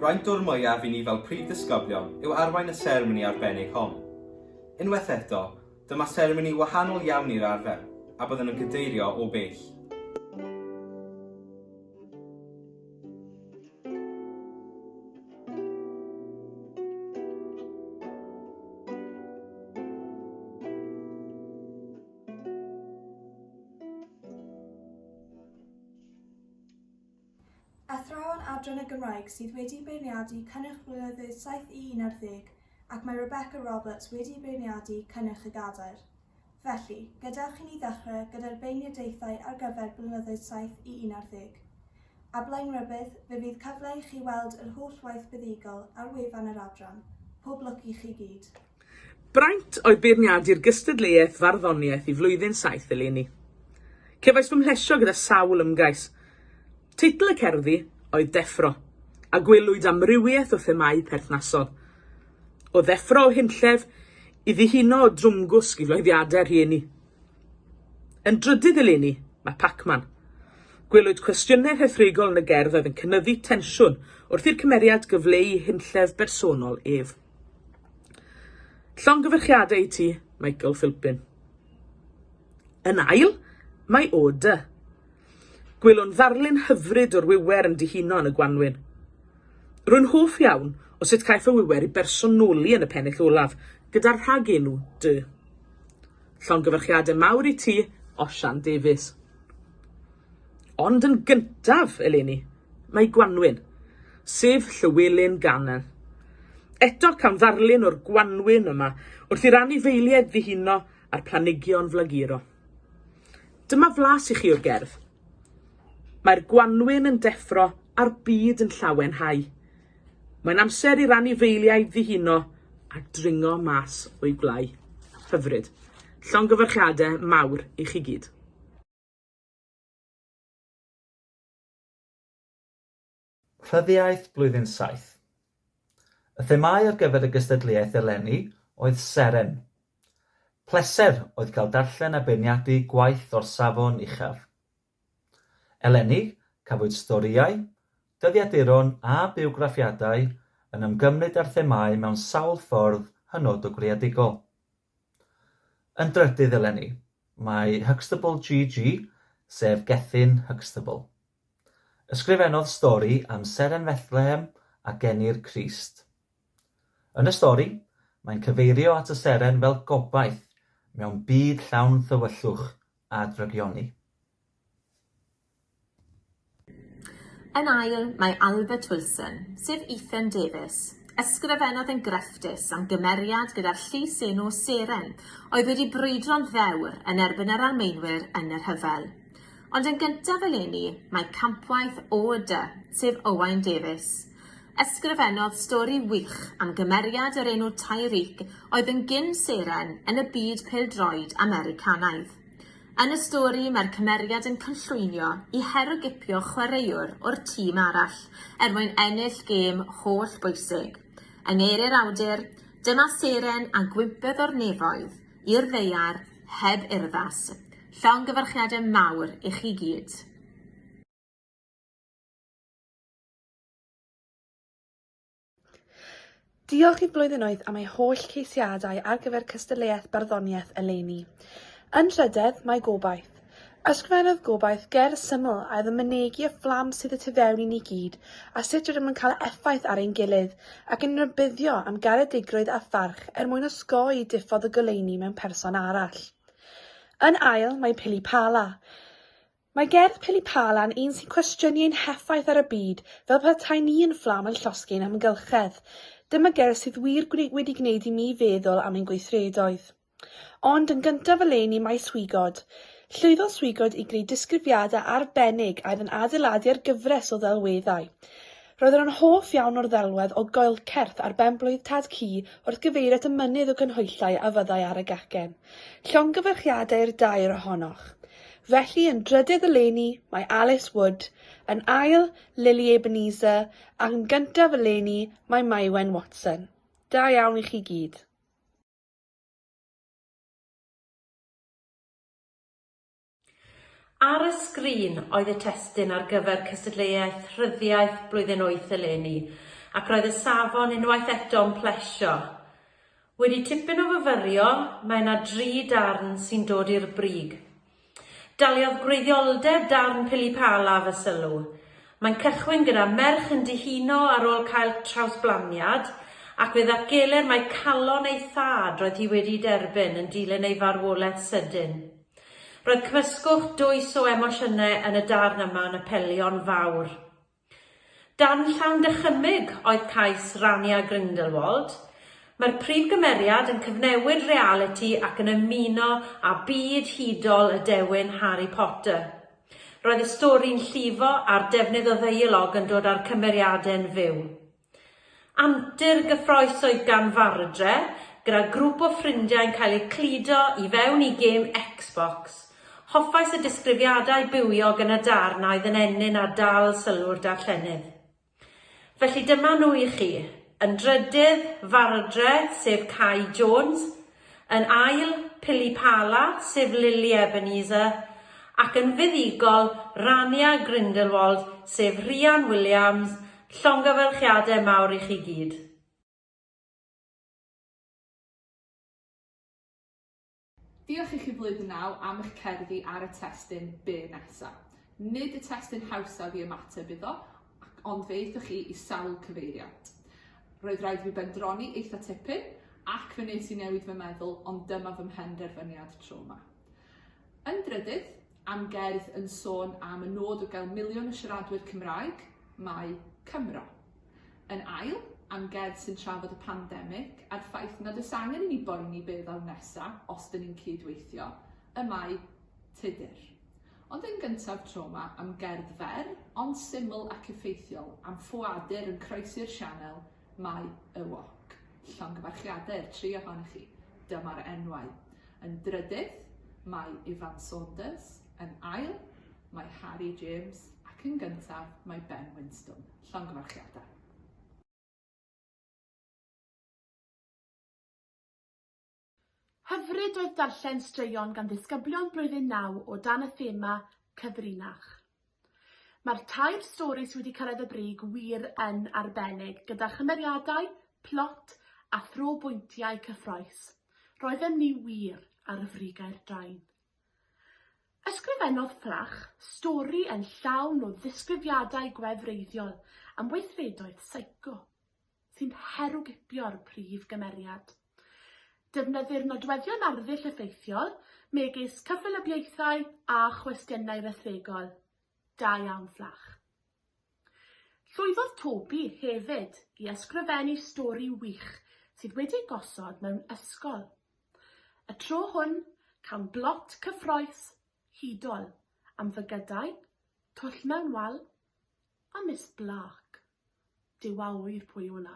Braint o'r mwyaf i ni fel Prif Ddisgyblion yw arwain y seremoni arbennig hon. Unwaith eto, dyma seremoni wahanol iawn i'r arfer, a byddwn yn cadeirio o bell. Athrawon Adran y Gymraeg sydd wedi beirniadu cynnyrch Blynyddoedd Saith i Unarddeg ac mae Rebecca Roberts wedi beirniadu cynnyrch y Gadair. Felly, gadewch i ni ddechrau gyda'r beirniadaethau ar gyfer Blynyddoedd Saith i Unarddeg. A Blaenrybudd, fe fydd cyfle i chi weld yr holl waith buddugol ar wefan yr Adran. Pob lwc i chi gyd. Braint oedd beirniadu'r gystadleuaeth farddoniaeth i flwyddyn saith eleni. Cefais fy mhlesio gyda sawl ymgais. Teitl y cerddi oedd 'Deffro', a gwelwyd amrywiaeth o themâu perthnasol. O ddeffro o hunllef i ddihuno o drwmgwsg i floeddiadau rhieni. Yn drydydd eleni, mae 'Pacman'. Gwelwyd cwestiynau rhethregol yn y gerdd oedd yn cynyddu tensiwn wrth i'r cymeriad gyfleu hunllef bersonol ef. Llongyfarchiadau i ti, Michael Philpin. Yn ail, mae O Dy. Gwelwn ddarlun hyfryd o'r wiwer yn dihuno yn y gwanwyn. Rwy'n hoff iawn o sut caiff y wiwer ei bersonoli yn y pennill olaf, gyda'r rhagenw Dy. Llongyfarchiadau mawr i ti, Osian Davies. Ond yn gyntaf eleni, mae gwanwyn, sef Llywelyn Garner. Eto cawn ddarlun o'r gwanwyn yma wrth i'r anifeiliaid ddihuno a'r planhigion flaguro. Dyma flas i chi o'r gerdd. Mae'r gwanwyn yn deffro a'r byd yn llawen hau. Mae'n amser i'r anifeiliaid ddihuno a dringo mas o'i gwlâu. Hyfryd. Llongyfarchiadau mawr i chi gyd. Rhyddiaith Blwyddyn Saith. Y themâu ar gyfer y gystadleuaeth eleni oedd Seren. Pleser oedd cael darllen a beirniadu gwaith o'r safon uchaf. Eleni, cafwyd storïau, dyddiaduron a biwgraffiadau yn ymgymryd â'r themâu mewn sawl ffordd hynod o greadigol. Yn drydydd eleni, mae Huxtable GG, sef Gethin Huxtable. Ysgrifennodd stori am Seren Fethlehem a geni'r Crist. Yn y stori, mae'n cyfeirio at y seren fel gobaith mewn byd llawn thywyllwch a drygioni. Yn ail, mae Albert Wilson, sef Ethan Davies. Ysgrifennodd yn grefftus am gymeriad gyda'r llys enw Seren oedd wedi brwydro'n ddewr yn erbyn yr Almaenwyr yn y rhyfel. Ond yn gyntaf eleni, mae campwaith OD, sef Owain Davies. Ysgrifennodd stori wych am gymeriad yr enw Tyreek oedd yn gyn-seren yn y byd pêl-droed Americanaidd. Yn y stori, mae'r cymeriad yn cynllwynio i herwgipio chwaraewr o'r tîm arall er mwyn ennill gêm holl bwysig. Yng ngeiriau'r awdur, Dyma seren a gwympodd o'r nefoedd i'r ddaear heb urddas. Llongyfarchiadau mawr i chi gyd. Diolch i'r blwyddynnoedd am ei holl ceisiadau ar gyfer cystadleuaeth barddoniaeth eleni. Yn trydedd, mae gobaith. Ysgrifennodd gobaith ger syml a oedd yn mynegi y fflam sydd y tu fewn i ni gyd a sut rydym yn cael effaith ar ein gilydd ac yn rybuddio am garedigrwydd a pharch er mwyn osgoi diffodd y goleuni mewn person arall. Yn ail, mae Pili Pala. Mae gerdd Pili Palan un sy'n cwestiynu ein heffaith ar y byd fel petai ni yn fflam yn llosgi ein amgylchedd. Dyma gerdd sydd wir wedi gwneud i mi feddwl am ein gweithredoedd. Ond, yn gyntaf eleni, mae Swigod. Llwyddodd Swigod i greu disgrifiadau arbennig a oedd yn adeiladu ar gyfres o ddelweddau. Roedden nhw'n hoff iawn o'r ddelwedd o goelcerth ar ben-blwydd Tad Cu wrth gyfeirio at y mynydd o gynhwyllau a fyddai ar y gacen. Llongyfarchiadau i'r dair ohonoch. Felly yn drydydd eleni mae Alice Wood, yn ail Lily Ebenezer ac yn gyntaf eleni mae Maiwen Watson. Da iawn i chi gyd. Ar y sgrin oedd y testun ar gyfer cystadleuaeth rhyddiaith blwyddyn wyth eleni, ac roedd y safon unwaith eto'n plesio. Wedi tipyn o fyfyrio, mae 'na dri darn sy'n dod i'r brig. Daliodd gwreiddioldeb darn Pili Pala fy sylw. Mae'n cychwyn gyda merch yn dihuno ar ôl cael trawsblaniad, ac fe ddatgelir mai calon ei thad roedd hi wedi'i derbyn yn dilyn ei farwolaeth sydyn. Roedd cymysgwch dwys o emosiynau yn y darn yma yn apelio'n fawr. Dan llawn dychymyg oedd cais Rania Grindelwald. Mae'r prif gymeriad yn cyfnewid realiti ac yn ymuno â byd hudol y dewin Harry Potter. Roedd y stori'n llifo a'r defnydd o ddeialog yn dod â'r cymeriade'n fyw. Antur gyffrous oedd gan Vardre gyda grŵp o ffrindiau'n cael eu cludo i fewn i gêm Xbox. Hoffais y disgrifiadau bywiog yn y darn a oedd yn ennyn a dal sylw'r darllenydd. Felly dyma nhw i chi, yn drydydd, Vardre, sef Cai Jones, Yn ail, Pili Pala, sef Lily Ebenezer, ac yn fuddugol, Rania Grindelwald, sef Rhian Williams, llongyfarchiadau mawr i chi gyd. Diolch i chi Flwyddyn Naw am eich cerddi ar y testun byr nesaf. Nid y testun hawsaf i ymateb iddo, ac ond fe aethoch chi i sawl cyfeiriad. Roedd rhaid i fi bendroni eitha tipyn ac fe nes i newid fy meddwl ond dyma fy mhenderfyniad tro ma. Yn drydydd, am gerdd yn sôn am y nod o gael miliwn o siaradwyr Cymraeg, mae Cymro. Yn ail, am gerdd sy'n trafod y pandemig a'r ffaith nad oes angen i ni boeni be ddaw nesa os dyn ni'n cyd-weithio, y mae Tudur. Ond yn gyntaf trawma am gerdd fer ond syml ac effeithiol am ffoadur yn croesi'r sianel Mae y Wok, llongyfarchiadau i'r tri ohonoch chi, dyma'r enwau. Yn drydydd, mae Ifan Saunders, yn ail, mae Harri James ac yn gyntaf, mae Ben Winstone, llongyfarchiadau. Hyfryd oedd darllen straeon gan ddisgyblion Blwyddyn Naw o dan y thema 'Cyfrinach'. Mae'r tair stori sydd wedi cyrraedd y brig wir yn arbennig, gyda chymeriadau, plot a thro bwyntiau cyffroes. Roedden ni wir ar y frigau'r drain. Ysgrifennodd Fflach stori yn llawn o ddisgrifiadau gwefreiddiol am weithredoedd seico. sy'n herwgipio'r prif gymeriad. Defnyddir nodweddion arddull effeithiol, megis cyffelybiaethau a chwestiynau rhethregol. Da iawn, Fflach. Llwyddodd Toby hefyd i ysgrifennu stori wych sydd wedi gosod mewn ysgol. Y tro hwn, cawn blot cyffroes, hudol, am fygydau, twll mewn wal, A Miss Black? Duw a ŵyr pwy yw hwnna.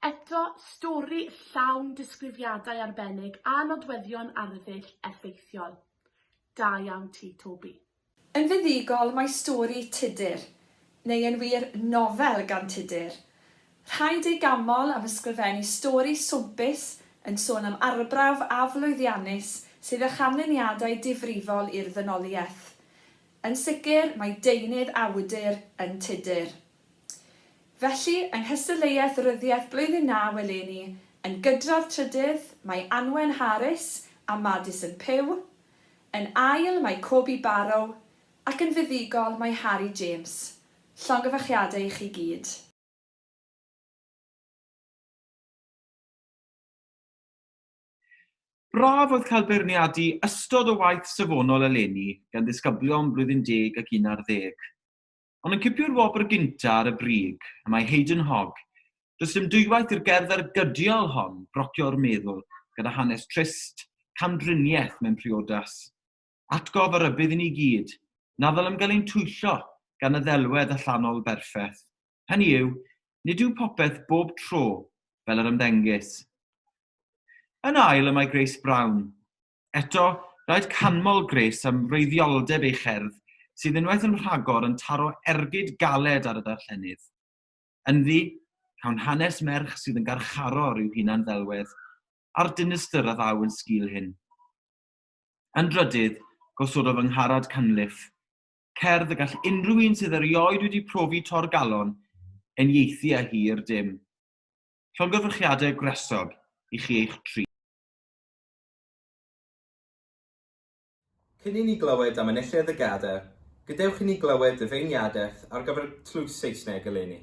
Eto, stori llawn disgrifiadau arbennig a nodweddion arddull effeithiol. Da iawn ti, Toby. Yn fuddugol mae stori Tudur, neu yn wir nofel gan Tudur, rhaid ei ganmol am ysgrifennu stori swmpus yn sôn am arbrawf aflwyddiannus sydd â chanlyniadau difrifol i'r ddynoliaeth. Yn sicr, mae deunydd a wydr yn tudur. Felly, yng nghystadleuaeth ryddiaith blwyddyn naw eleni, yn gydradd trydydd, mae Anwen Harris a Madison Pugh, yn ail, mae Coby Barrow, ac yn fuddugol, mae Harry James. Llongyfarchiadau i chi gyd. Braf oedd cael beirniadu ystod o waith safonol eleni gan ddisgyblion blwyddyn deg ac un ar ddeg. Ond yn cipio'r wobr gynta' ar y brig, y mae Haydn Hogg, does dim dwywaith i'r gerdd ergydiol hon brocio'r meddwl gyda hanes trist, camdriniaeth mewn priodas. Atgof a rybudd i ni gyd, na ddylem gael ein twyllo gan y ddelwedd allanol berffaith. Hynny yw, nid yw popeth bob tro fel yr ymddengys. Yn ail y mae Grace Brown. Eto, rhaid canmol Grace am wreiddioldeb ei cherdd sydd unwaith yn rhagor yn taro ergyd galed ar y darllenydd. Ynddi, cawn hanes merch sydd yn garcharor i'w hunan-ddelwedd, a'r dinistr a ddaw yn sgil hyn. Yn drydydd, gosododd yng Ngharad Cunliffe cerdd y gall unrhyw un sydd erioed wedi profi torgalon eniaethu â hi i'r dim. Llongyfarchiadau gwresog i chi eich tri. Cyn i ni glywed am enillydd y Gada, gadewch i ni glywed ddyfeiniadaeth ar gyfer Tlws Saesneg eleni.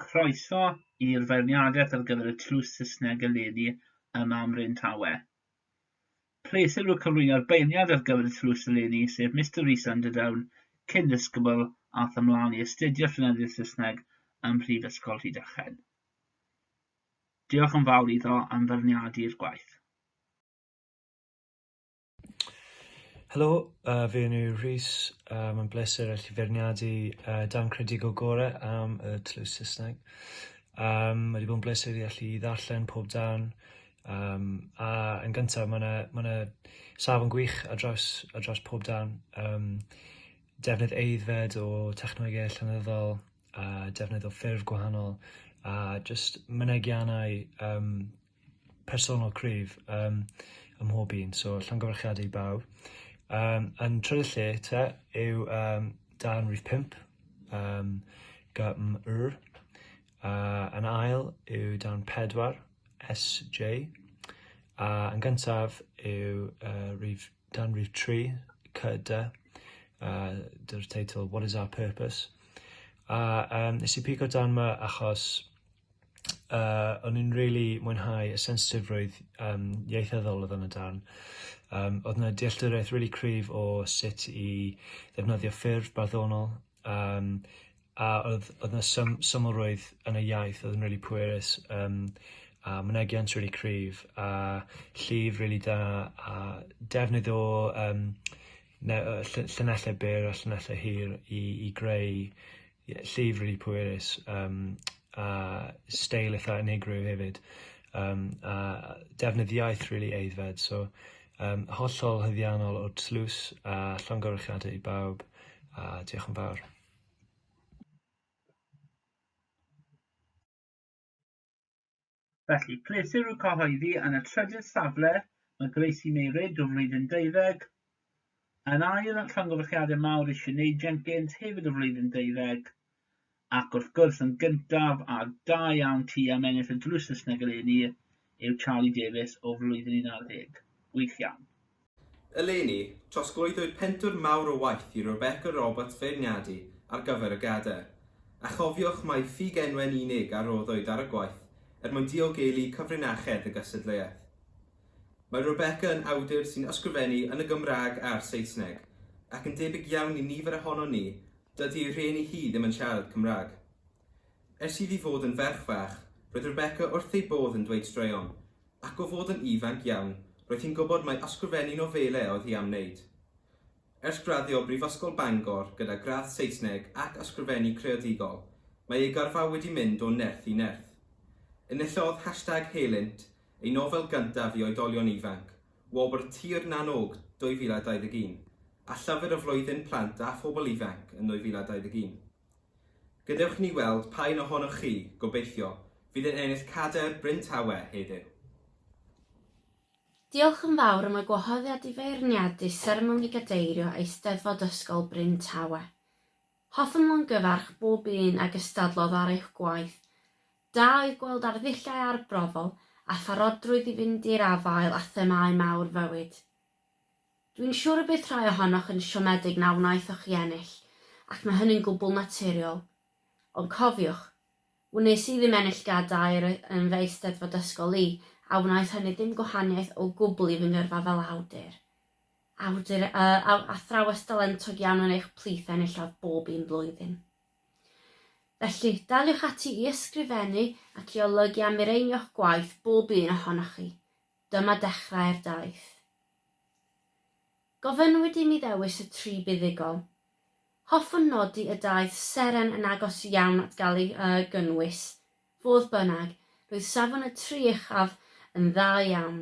Croeso i'r feirniadaeth ar gyfer y tlws Saesneg eleni yma ym Mryn Tawe. Pleser yw cyflwyno'r beirniad ar gyfer y tlws eleni, sef Mister Rhys Underdown, cyn ddisgybl ath ymlaen i astudio Llenyddiaeth Saesneg ym Mhrifysgol Rhydychen. Diolch yn fawr iddo am feirniadu'r gwaith. Helo, yy fi enw yw Rhys a ma'n bleser allu feirniadu yy darn creadigol gore am y tlws Sysneg. Yym ma' 'di bod yn bleser i allu ddarllen pob darn yym a yn gynta ma' 'na ma' 'na safon gwych ar draws ar draws pob darn yym defnydd aeddfed o technoege llenyddol a defnydd o ffurf gwahanol a jyst mynegiannau yym personol cryf yym ym mhob un, so llongyfarchiadau i bawb. Yym yn trydydd lle te yw yym darn rhif pump yym GMR, a yn ail yw darn pedwar SJ, a yn gyntaf yw yy rhif darn rhif tri KD a dy'r teitl What is our purpose? a yym nes i pigo darn 'ma achos uh, o'n i'n really mwynhau y sensitifrwydd um, ieithyddol oedd yn y darn. Um, oedd yna dealltwriaeth really cryf o sut i ddefnyddio ffurf barddonol, um, a oedd, oedd yna sym, symlrwydd yn y iaith oedd yn really pwerus, um, a mynegiant really cryf, a llif really da, a defnydd o um, llunellau byr a llunellau hir i, i greu Ie, llif rili pwerus yym a steil itha unigryw hefyd yym a defnydd iaith rili aeddfed so yym hollol haeddiannol o tlws a llongyfarchiadau i bawb a diolch yn fawr. Felly, pleser i'w cyhoeddi yn y trydydd safle, mae Gracie May Reid o flwyddyn deuddeg, yn ail yn llongyfarchiadau mawr i Sinead Jenkins, hefyd o flwyddyn deuddeg, ac wrth gwrs yn gyntaf a da iawn ti am ennill y drws Saesneg eleni yw Charlie Davies o flwyddyn 11. Gwych iawn. Eleni, trosglwyddwyd pentwr mawr o waith i Rebecca Roberts feirniadu ar gyfer y Gadair, a chofiwch mai ffug enwen unig a roddwyd ar y gwaith er mwyn diogelu cyfrinachedd y gystadleuaeth. Mae Rebecca yn awdur sy'n ysgrifennu yn y Gymraeg a'r Saesneg, ac yn debyg iawn i nifer ohonon ni, dydy ei rhieni hi ddim yn siarad Cymraeg. Ers iddi fod yn ferch fach, roedd Rebecca wrth ei bodd yn dweud straeon, ac o fod yn ifanc iawn roedd hi'n gwybod mai ysgrifennu nofelau oedd hi am wneud. Ers graddio o Brifysgol Bangor gyda gradd Saesneg ac Ysgrifennu Creadigol, mae ei gyrfa wedi mynd o nerth i nerth. Enillodd hashtag helynt, ei nofel gyntaf i oedolion ifanc, wobr Tir na n-Og 2021, a Llyfr y Flwyddyn Plant a Phobl Ifanc yn 2021. Gadewch ni weld pa un ohonoch chi, gobeithio, fydd yn ennill cadair Bryn Tawe heddiw. Diolch yn fawr am y gwahoddiad i feirniadu seremoni gadeirio Eisteddfod Ysgol Bryn Tawe. Hoffem longyfarch bob un a gystadlodd ar eich gwaith. Da oedd gweld arddulliau arbrofol a pharodrwydd i fynd i'r afael â themâu mawr fywyd. Dwi'n siŵr y bydd rhai ohonoch yn siomedig na wnaethoch chi ennill, ac mae hynny'n gwbl naturiol. Ond cofiwch, wnes i ddim ennill gadair yn fy Eisteddfod ysgol i, a wnaeth hynny ddim gwahaniaeth o gwbl i fy ngyrfa fel awdur. Awdur yy athrawes dalentog iawn yn eich plith enillodd bob un blwyddyn. Felly, daliwch ati i ysgrifennu ac i olygu a mireinio'ch gwaith, bob un ohonoch chi. Dyma dechrau'r daith. Gofynnwyd i mi ddewis y tri buddugol. Hoffwn nodi y daeth seren yn agos iawn at gael ei yy gynnwys. Fodd bynnag, roedd safon y tri uchaf yn dda iawn.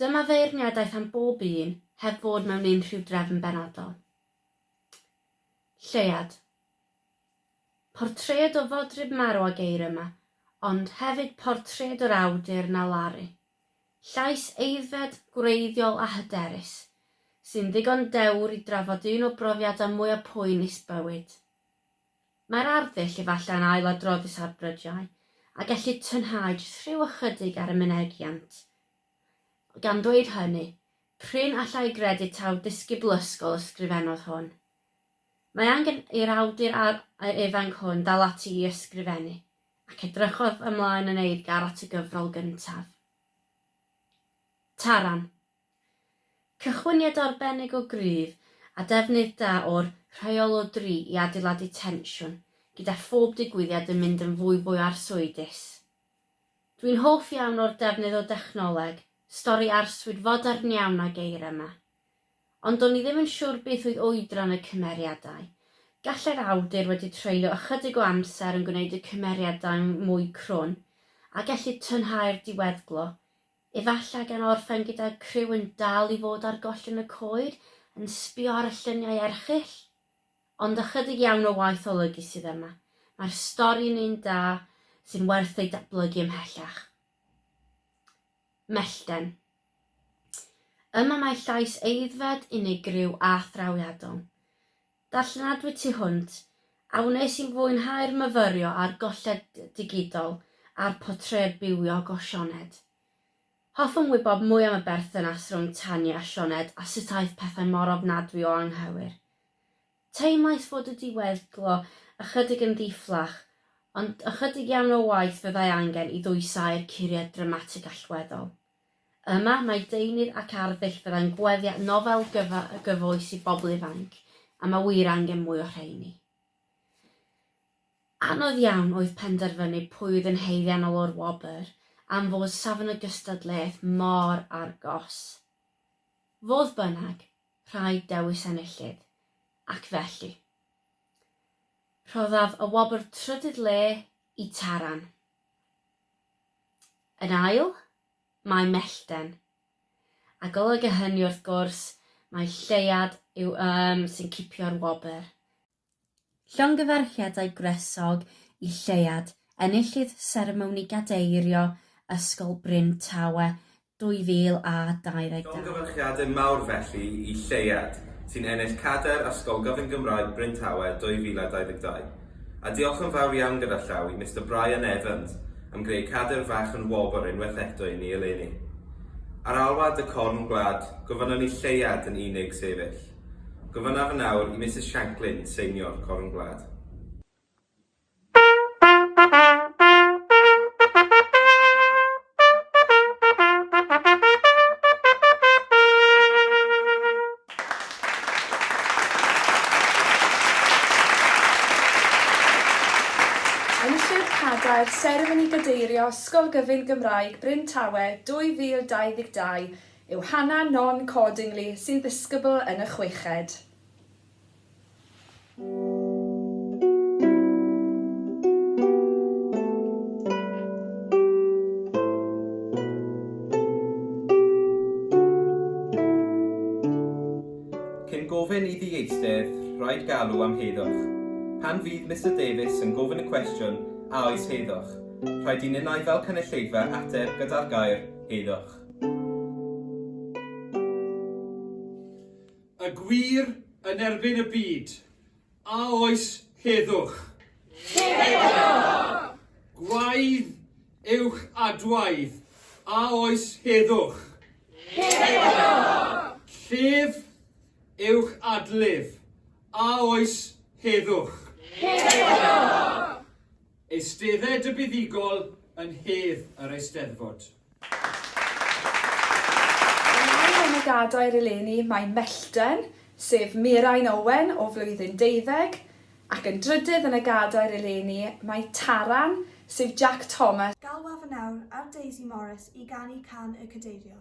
Dyma feirniadaeth am bob un, heb fod mewn unrhyw drefn benodol. Lleuad. Portread o fodryb marw a geir yma, ond hefyd portread yr awdur na laru. Llais aeddfed, gwreiddiol a hyderus, sy'n ddigon dewr i drafod un o brofiadau mwyaf poenus bywyd. Mae'r arddull efallai'n ailadroddus ar brydiau, a gellid tynhau jyst rhyw ychydig ar y mynegiant. Gan ddweud hynny, prin allai gredu taw disgybl ysgol ysgrifennodd hwn. Mae angen i'r awdur a'r ae ifanc hwn dal ati i ysgrifennu, ac edrychodd ymlaen yn eiddgar at y gyfrol gyntaf. Taran. Cychwyniad arbennig o gryf, a defnydd da o'r rheol o dri i adeiladu tensiwn, gyda phob digwyddiad yn mynd yn fwyfwy arswydus. Dwi'n hoff iawn o'r defnydd o dechnoleg, stori arswyd fodern iawn a geir yma. Ond do'n i ddim yn siwr beth oedd oedran y cymeriadau. Gallai'r awdur wedi treulio ychydig o amser yn gwneud y cymeriadau'n mwy crwn, a gelli tynhau'r diweddglo, efallai gan orffen gyda criw yn dal i fod ar gollyn y coed yn sbio ar y lluniau erchyll? Ond ychydig iawn o waith olygu sydd yma. Mae'r stori'n un da, sy'n werth ei datblygu ymhellach. Mellten. Yma mae llais aeddfed, unigryw a thrawiadol. Darllenadwy tu hwnt, a wnes i fwynhau'r myfyrio a'r golled digidol a'r portread bywiog o Sioned. Hoffwn wybod mwy am y berthynas rhwng Tanya a Sioned a sut aeth pethau mor ofnadwy o anghywir. Teimlais fod y diweddglo ychydig yn ddi-fflach, ond ychydig iawn o waith fyddai angen i ddwysáu'r curiad dramatig allweddol. Yma, mae deunydd ac arddull fyddai'n gweddio nofel gyfoes i bobl ifainc, a mae wir angen mwy o rheini. Anodd iawn oedd penderfynu pwy oedd yn haeddiannol o'r wobr, am fod safon y gystadleuaeth mor argos. Fodd bynnag, rhaid dewis enillydd, ac felly, rhoddaf y wobr trydydd le i Taran. Yn ail, mae Mellten. A golyga hynny wrth gwrs, mae Lleuad yw ym sy'n cipio'r wobr. Llongyfarchiadau gwresog i Lleuad, enillydd seremoni gadeirio Ysgol Bryn Tawe 2022. Llongyfarchiadau mawr felly i Lleuad, sy'n ennill cadair Ysgol Gyfun Gymraeg Bryn Tawe 2022. A diolch yn fawr iawn gyda llaw i Mister Brian Evans am greu cadair fach yn wobr unwaith eto i ni eleni. Ar alwad y corn gwlad, gofynnwn i Lleuad yn unig sefyll. Gofynnaf yn awr i Misus Shanklin seinio'r Corn Gwlad. Seremoni Gadeirio Ysgol Gyfun Gymraeg Bryn Tawe 2022 yw Hannah Non Cordingley sy'n ddisgybl yn y chweched. Cyn gofyn i ddieithdedd, rhaid galw am heddwch. Pan fydd Mister Davies yn gofyn y cwestiwn 'A oes heddwch? rhaid i ninnau fel cynulleidfa ateb gyda'r gair 'heddwch'. Y gwir yn erbyn y byd, a oes heddwch? Heddwch! Gwaedd yw'ch adwaedd, a oes heddwch? Heddwch! Llef yw'ch adlef, a oes heddwch? Heddwch! Eistedded y Buddugol yn hedd yr Eisteddfod. Ymlaen yn y gadair eleni mae mellten, sef Mirain Owen o flwyddyn deuddeg, ac yn drydydd yn y gadair eleni mae Taran, sef Jack Thomas, Galwaf yn awr ar Daisy Morris i ganu can y Cadeirio.